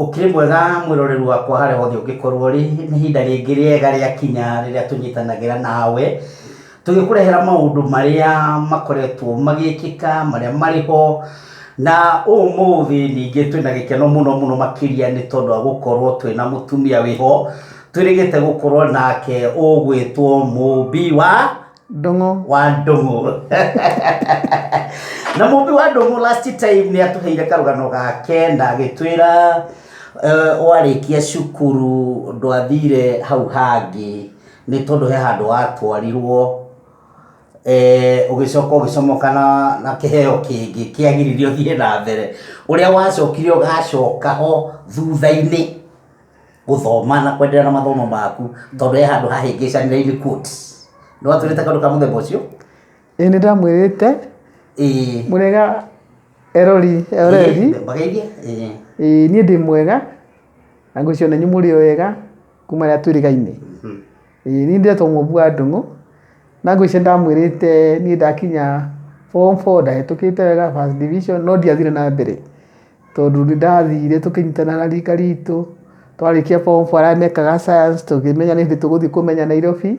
Ũkĩrĩ mwega mwĩroreri wakwa harĩa hothe ũngĩkorwo ũrĩ, nĩ ihinda rĩngĩ rĩega rĩakinya rĩrĩa tũnyitanagĩra nawe, tũgĩkũrehera maũndũ marĩa makoretwo magĩkĩka, marĩa marĩ ho, na ũmũthĩ ningĩ twĩna gĩkeno mũno mũno makĩria nĩ tondũ wa gũkorwo twĩna mũtumia wĩ ho, twĩrĩgĩte gũkorwo nake ũgwĩtwo mũmbi wa... ndũng'ũ wa ndũng'ũ na mũmbi wa ndũng'ũ last time nĩ atũheire karũgano gake na agĩtwĩra eh, warĩkia cukuru ndwathire hau hangĩ nĩ tondũ he handũ watwarirwo eh, ũgĩcoka ũgĩcomoka na, na kĩheo kĩngĩ kĩagiririe ũthiĩ na mbere ũrĩa wacokire ũgacoka ho thutha-inĩ gũthoma na kwendelea na mathomo maku tondũ he handũ hahĩngĩcanĩre in quotes. Nĩ watwĩrĩte kaũndũ ka mũthemba ũcio? Ĩĩ nĩ ndamwĩrĩte. Ĩĩ. Mũrĩega erori ereri. Mbageithie. Ĩĩ. Ĩĩ niĩ ndĩ mwega na ngwĩciria ona inyuĩ mũrĩ o ega kuma rĩrĩa twĩrĩgaine. Ĩĩ niĩ ndetwo Mũmbu wa Ndũng'ũ na ngwĩciria nĩ ndamwĩrĩte niĩ ndakinya form four ndahĩtũkĩte wega first division no ndiathire na mbere. tondũ nĩ ndathire tũkĩnyitana na rika ritũ twarĩkia form four arĩa mekaga science tũkĩmenya nĩ hĩndĩ tũgũthiĩ kũmenya Nairobi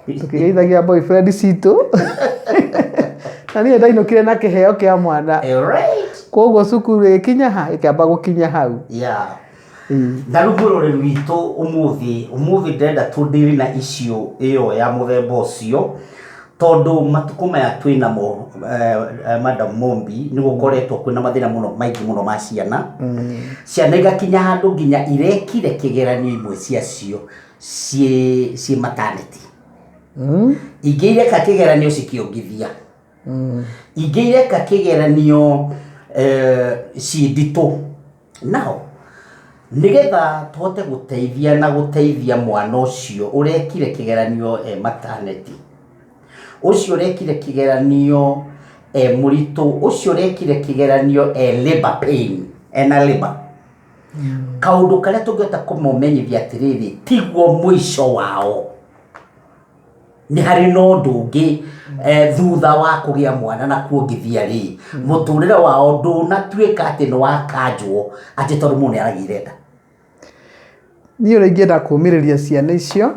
tũkĩgeithagia boyfriend citũ na niĩ ndainũkire na kĩheo kĩa mwana Eh, right. koguo cukuru ĩkinya ha ĩkĩamba gũkinya hau Yeah. Ndarugũra ũrĩrĩ witũ ũmũthĩ, ũmũthĩ ndĩrenda tũ deal na issue ĩyo ya mũthemba ũcio, tondũ matukũ maya twĩnamo Madam Mumbi, nĩ gũkoretwo kwĩna mathĩna mũno maingĩ mũno ma ciana, ciana igakinya handũ nginya irekire kĩgeranio imwe cia cio ciĩ ciĩ mataneti. Ingĩ ireka kĩgeranio cikĩongithia, ingĩ ireka kĩgeranio ciĩ nditũ. Naho nĩgetha tũhote gũteithia na gũteithia mwana ũcio ũrekire kĩgeranio e mataneti, ũcio ũrekire kĩgeranio e mũritũ, ũcio ũrekire kĩgeranio e labour pain, ena labour, kaũndũ karĩa tũngĩhota kũmũmenyithia atĩrĩrĩ, tiguo mũico wao. nĩ harĩ na ũndũ ũngĩ eh, thutha wa kũgĩa mwana na kuongithia rĩ mũtũrĩre wao ndũnatuĩka atĩ nĩ wakanjwo atĩ tondũ mũndũ nĩ aragĩire nda niĩ ũrĩa ingĩenda kũmĩrĩria ciana icio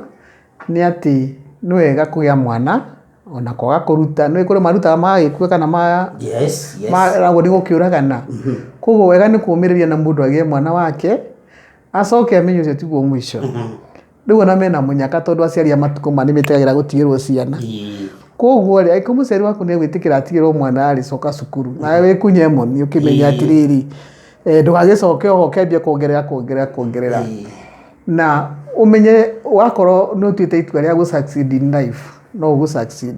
nĩ atĩ nĩ wega kũgĩa mwana ona kwaga kũruta nĩ kũrĩ marutaga magagĩkua kana ma yes yes maragwo nĩ gũkĩũragana koguo wega nĩ kũmĩrĩria na mũndũ agĩe mwana wake acoke amenye ũcio tiguo mũico rĩu ona mena mũnyaka tondũ aciari a matukũ maya nĩmetĩkagĩra gũtigĩrwo ciana Ĩĩ. koguo rĩ angĩkorwo mũciari waku nĩegwĩtĩkĩra atigĩrwo mwana rĩ coka cukuru nawe wĩkunye moni ũkĩmenye Ĩĩ. atĩrĩrĩ eh, ndũgagĩcoke oho ũkĩambia kuongerera kuongerera kuongerera Ĩĩ. na ũmenye wakorwo nĩ ũtuĩte itua rĩa gũ succeed in life no ũgũ succeed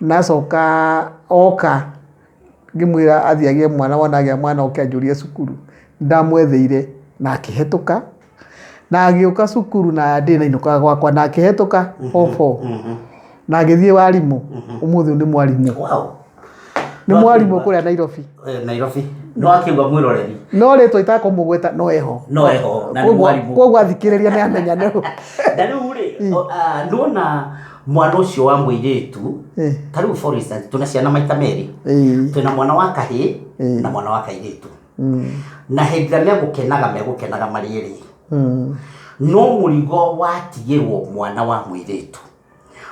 Nacoka oka ngĩmwĩra athiĩ agĩe mwana wona agĩa mwana oke anjũrie cukuru ndamwetheire na akĩhetũka na agĩũka cukuru na ndĩ na inũkaga gwakwa na akĩhetũka obo na agĩthiĩ warimũ ũmũthĩ nĩ mwarimũ Wow. nĩ mwarimũ kũrĩa Nairobi Eh, Nairobi. No akĩuga mwĩroreri. no rĩtwa itakũmũgweta no eho No eho, na nĩ Koguo- mwarimũ. koguo athikĩrĩria nĩ amenya nĩ ũ. Na rĩu rĩ, o- ah, ndona mwana ũcio wa mũirĩtu Eh, ta rĩu for instance twĩna ciana maita merĩ eh, twĩna mwana wa kahĩ Mm. na mwana wa kairĩtu mm, na hĩndĩ ĩrĩa megũkenaga megũkenaga marĩ erĩ mm, no mũrigo watigĩrwo mwana wa mũirĩtu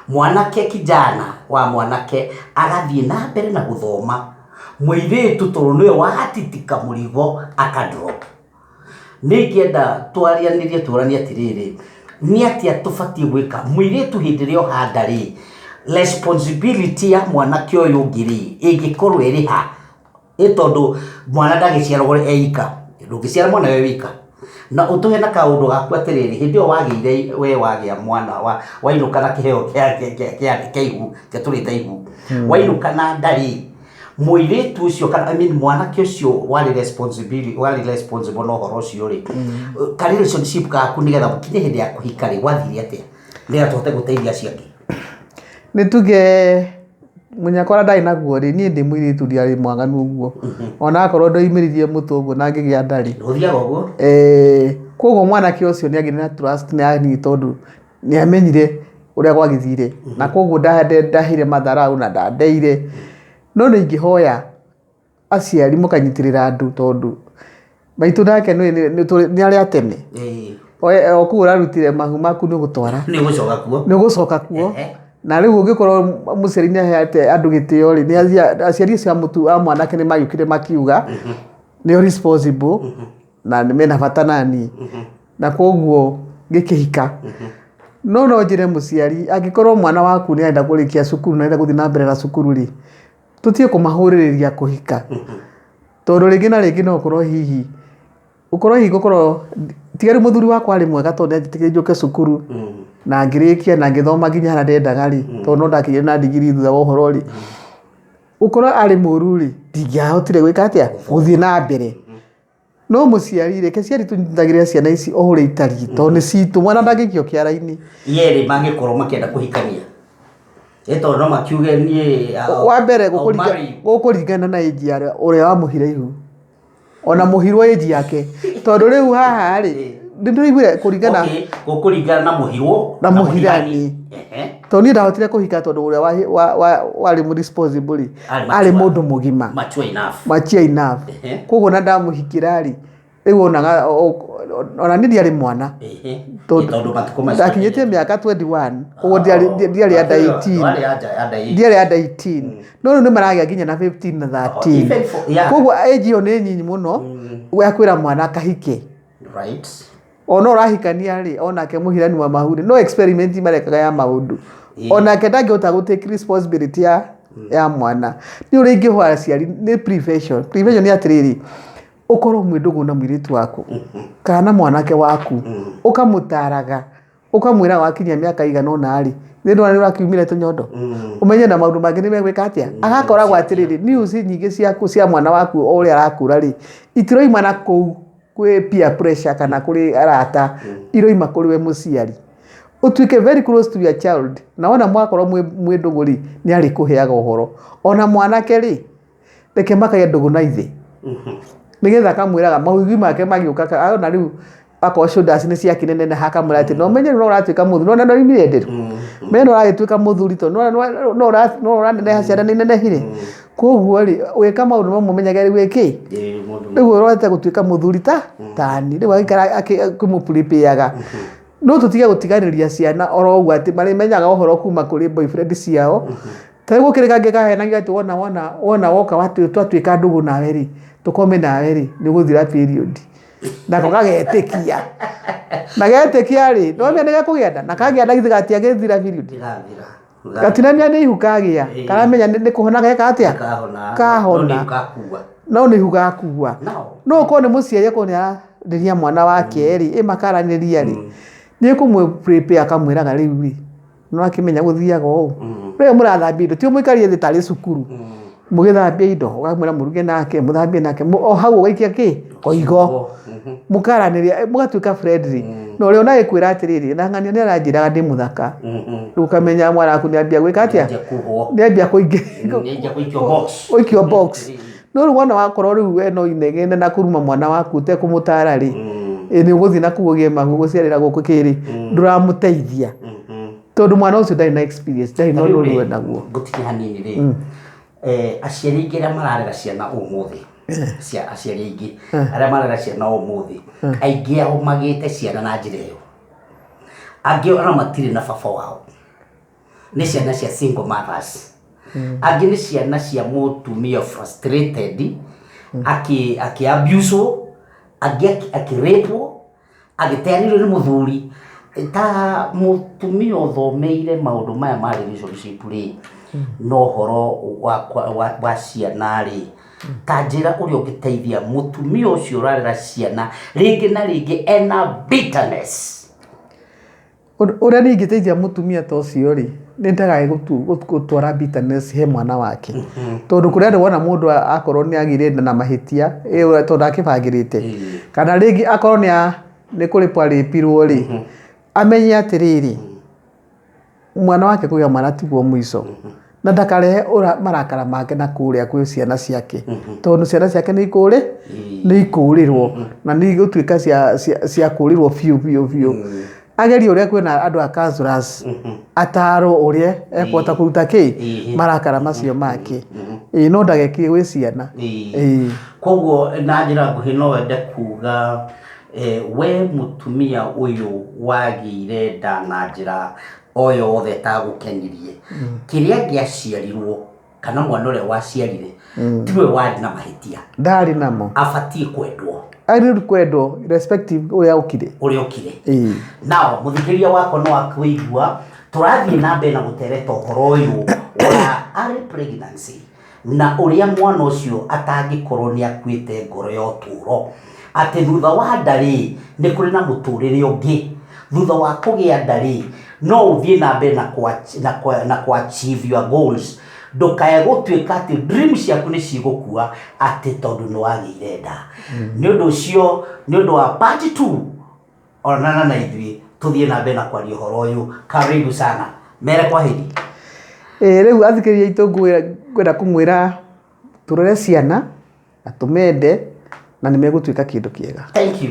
mwanake kijana wa mwanake agathiĩ na mbere na gũthoma mũirĩtu tondũ nĩwe watitika mũrigo akadrop Nĩ ingĩenda twarĩanĩrie tũranie atĩrĩrĩ, nĩ atĩa tũbatiĩ gwĩka? Mũirĩtu hĩndĩ ĩrĩa oha nda rĩ, responsibility ya mwanake ũyũ ũngĩ rĩ, ĩngĩkorwo ĩrĩ ha? Nĩ tondũ mwana ndagĩciaragwo e ika. Ndũngĩciara mwana wĩ wika. Na ũtũhe na kaũndũ gaku atĩrĩrĩ, hĩndĩ ĩyo wagĩire, we wagĩa mwana, wainũka na kĩheo kĩa ihu, kĩrĩa tũrĩte ihu, wainũka na nda rĩ... mũirĩtu ũcio kana I mean mwanake ũcio warĩ responsibility warĩ responsible na ũhoro ũcio rĩ ka relationship gaku nĩgetha mũkinye hĩndĩ ya kũhika rĩ gwathire atĩa nĩgetha tũhote gũteithia acio angĩ nĩ tuge mũnyakora ndarĩ naguo rĩ niĩ ndĩ mũirĩtu ndiarĩ mwaganu ũguo ona akorwo ndoimĩririe mũtwe ũguo na ngĩgĩa nda rĩ gũthiaga ũguo eh, koguo mwanake ũcio nĩ agĩire na trust nĩ yani tondũ nĩamenyire ũrĩa gwagĩthire na koguo ndahire matharaũ na ndandeire no nĩ ingĩhoya aciari mũkanyitĩrĩra andũ tondũ maitũ nake nĩ arĩ a tene o kũu ũrarutire mahu maku nĩ ũgũtwara nĩ ũgũcoka kuo na rĩu ũngĩkorwo mũciari nĩ ahete andũ gĩtĩo rĩ aciari acio a mwanake nĩ magĩũkire makiuga nĩ o responsible na mena bata naniĩ. na koguo ngĩkĩhika no no njĩre mũciari angĩkorwo mwana waku nĩ arenda kũrĩkia cukuru na arenda gũthiĩ na mbere na cukuru rĩ tũtige kũmahũrĩrĩria kũhika tondũ rĩngĩ na rĩngĩ no ũkorwo hihi ũkorwo hihi gũkorwo ti rĩu mũthuri wakwa arĩ mwega tondũ nĩ anjĩtĩkĩririe njũke cukuru na ngĩrĩkia na ngĩthoma nginya harĩa ndendaga rĩ tondũ no ndakĩgĩire na ndigiri thutha wa ũhoro rĩ gũkorwo arĩ mũru rĩ ndingĩahotire gwĩka atĩa gũthiĩ na mbere. no mũciari reke ciari tũnyitagĩrĩra ciana ici o ũrĩa itariĩ tondũ nĩ citũ mwana ndangĩikio kĩara-inĩ yerĩ mangĩkorwo makĩenda kũhikania ĩ tondũ no makiuge niĩ I'll- wa mbere I'll gũkũringa- marry you. gũkũringana na ĩnji ya ũrĩa wamũhire ihu ona mũhirwo ĩnji yake tondũ rĩu haha rĩ nĩ ndĩraiguire kũringana Okay, gũkũringana na mũhirwo Na mũhirani. Ehe. tondũ niĩ ndahotire kũhika tondũ ũrĩa wa- wa- wa- warĩ mũ responsible rĩ Arĩ mature. arĩ mũndũ mũgima mature enough machia enough Ehe. koguo na ndamũhikira rĩ rĩu wonaga o- o- ona niĩ ndiarĩ mwana Ehe. Tondũ- Tondũ matukũ macio ndakinyĩtie mĩaka 21 koguo ndiarĩ- ndi- ndiarĩ ya 18 Warĩ ya nja- ya nda ĩngĩ. ndiarĩ ya 18 no rĩu nĩ maragĩa nginya na 15 na Oh, even 13 for- yeah. koguo age ĩyo nĩ nyinyi mũno ya kwĩra mwana akahike Right. ona ũrahikania rĩ onake mũhirani wa mahuri no experiment marekaga ya maũndũ Ĩĩ. onake ndangĩhota gũ take responsibility ya, ya mwana nĩ ũrĩa ingĩhwa aciari nĩ prevention prevention nĩ atĩrĩrĩ ũkorwo mwĩ ndũgũ na mũirĩtu waku kana mwanake waku ũkamũtaraga ũkamwĩra wakinyia mĩaka igana ũna rĩ nĩ ndona nĩ ũrakiumire tũnyondo ũmenye na maũndũ mangĩ nĩ megwĩka atĩa agakoragwo atĩrĩrĩ news nyingĩ ciaku cia mwana waku o ũrĩa arakũra rĩ itiroimana kũu kwĩ peer pressure kana kũrĩ arata iroima kũrĩ we mũciari ũtuĩke very close to your child na wona mwakorwo mwĩ mwĩ ndũgũ rĩ nĩ arĩkũheaga ũhoro ona mwanake rĩ reke makagĩa ndũgũ na ithe nĩgetha akamwĩraga maũigui make magĩũka ka- ona rĩu akorwo shoulders nĩ ciakĩneneneha akamwĩra atĩ no menye rĩu no ũratuĩka mũthuri nona no imire nderũ menye no ũragĩtuĩka mũthuri to no no- no ũra- no ũraneneha ciana nĩ inenehire koguo rĩ wĩka maũndũ mamwe menyage rĩu ĩkĩ Ĩĩ, mũndũ rĩu ũrorete gũtuĩka mũthuri ta tani rĩu agĩikara kĩmũpurĩpĩaga no tũtige gũtiganĩria ciana oro ũguo atĩ marĩmenyaga ũhoro kuma kũrĩ boyfriend ciao ta rĩu gũkĩrĩ kangĩ kahenagia atĩ wona wona wona woka watu- twatuĩka ndũgũ nawe rĩ tũkome nawe rĩ nĩ ũgũthira period nako gagetĩkia na getĩkia rĩ nĩwamenya nĩ gekũgĩa nda na kagĩa nda githĩ gatiagĩthira period ndĩrathira gatinania nĩ ihu kagĩa Ĩĩ. karamenya nĩ nĩ kũhona geka atĩa kahona Kahona. no gakua no nĩ ihu gakua nao no ũkorwo nĩ mũciari akorwo nĩ ararĩria mwana wake rĩ ĩma karanĩria rĩ nĩ kũmwe prepare akamwĩraga rĩu rĩ nĩ wakĩmenya gũthiaga ũũ Mm. rĩu mũrathambia indo ti mũikarie thĩ tarĩ cukuru Mm. mũgĩthambia indo ũkamwĩra mũruge nake mũthambie nake mũ- o hau ũgaikia kĩ koigo Mhm. mũkaranĩria mũgatuĩka friendly na ũrĩa ũnaĩ kwĩra atĩrĩrĩ na ng'ania nĩ aranjĩraga ndĩ mũthaka Mhm. rĩu ũkamenya mwana waku nĩ ambia gwĩka atĩa Nĩanjia kuhwo. nĩ ambia kũingĩ Nĩanjia gũikio box. ũikio box no rĩu wona wakorwo rĩu we no inegene na kũruma mwana waku ũtekũmũtara rĩ Mm. ĩ, nĩ ũgũthiĩ na kuu ũgĩe mahu gũciarĩra gũkũ kĩrĩ ndũramũteithia Mhm. tondå mwana å cio ndarä na experience, ndarä na å ndå å rä wenda guo ngũtige hanini rĩ eh, aciari aingĩ arĩa mararera ciana ũmũthĩ cia aciari aingĩ arĩa mararera ciana ũmũthĩ aingĩ ao magĩte ciana na njĩra ĩyo angĩ ona matirĩ na baba wao nä ciana cia single mothers angä nä ciana cia mũtumia frustrated akä abuswo angä akä rapwo Agĩteanĩrio nĩ mũthuri, ta mũtumia ũthomeire maũndũ maya ma relationship rĩ, na ũhoro wa ciana rĩ, ta njĩra ũrĩa ũngĩteithia mũtumia ũcio ũrarera ciana, rĩngĩ na rĩngĩ ena bitterness. Ũrĩa niĩ ingĩteithia mũtumia ta ũcio rĩ, nĩ ndagae gũtwara bitterness he mwana wake. Mm-hmm. Tondũ kũrĩ andũ wona mũndũ akorwo nĩ agĩire na mahĩtia tondũ ndakĩbangĩrĩte. Mm-hmm. Kana rĩngĩ akorwo nĩ kũrĩpwo arĩpirwo rĩ, mm-hmm. amenye atĩrĩrĩ, mwana wake kũgĩa mwana tiguo mũico. na ndakarehe ũra- marakara make na kũrĩa kwĩ ciana ciake tondũ ciana ciake nĩ ikũrĩ nĩ ikũrĩrwo na nĩ igũtuĩka cia- cia- cia kũrĩrwo biũ biũ biũ ageria ũrĩa kwĩna andũ a councillors ataro ũrĩa ekũhota kũruta kĩ marakara macio make Ĩĩ, no ndagekire gwĩ ciana Ĩĩ. koguo na njĩra nguhĩ no wende kuga eh, we mũtumia ũyũ wagĩire nda na njĩra o yothe ĩtagũkenirie. Kĩrĩa angĩaciarirwo kana mwana ũrĩa waciarire tiwe warĩ na mahĩtia, ndarĩ namo abatiĩ kwendwo agĩrĩru kwendwo irrespective ũrĩa okire ũrĩa ũkire. Ĩĩ. Nao mũthikĩrĩria wakwa no akũigua tũrathiĩ na mbere na gũtereta ũhoro ũyũ wa early pregnancy. Na ũrĩa mwana ũcio atangĩkorũo nĩ akuĩte ngoro ya ũtũũro, atĩ thutha wa nda-rĩ, nĩ kũrĩ na mũtũũrĩre ũngĩ, thutha wa kũgĩa nda-rĩ, no ũthiĩ na mbere na kũ achieve your goals, ndũkae gũtuĩka atĩ dream ciaku nĩ cigũkua atĩ tondũ nĩ wagĩire nda. Nĩ ũndũ ũcio, nĩ ũndũ wa part two. Onana na ithuĩ tũthiĩ na mbere na kwaria ũhoro ũyũ. Karibu sana. Mere kwaheri. Ĩĩ rĩu athikĩrĩria aitũ ngwĩ- ngwenda kũmwĩra tũrere ciana na tũmende na nĩ megũtuĩka kĩndũ kĩega. Thank you.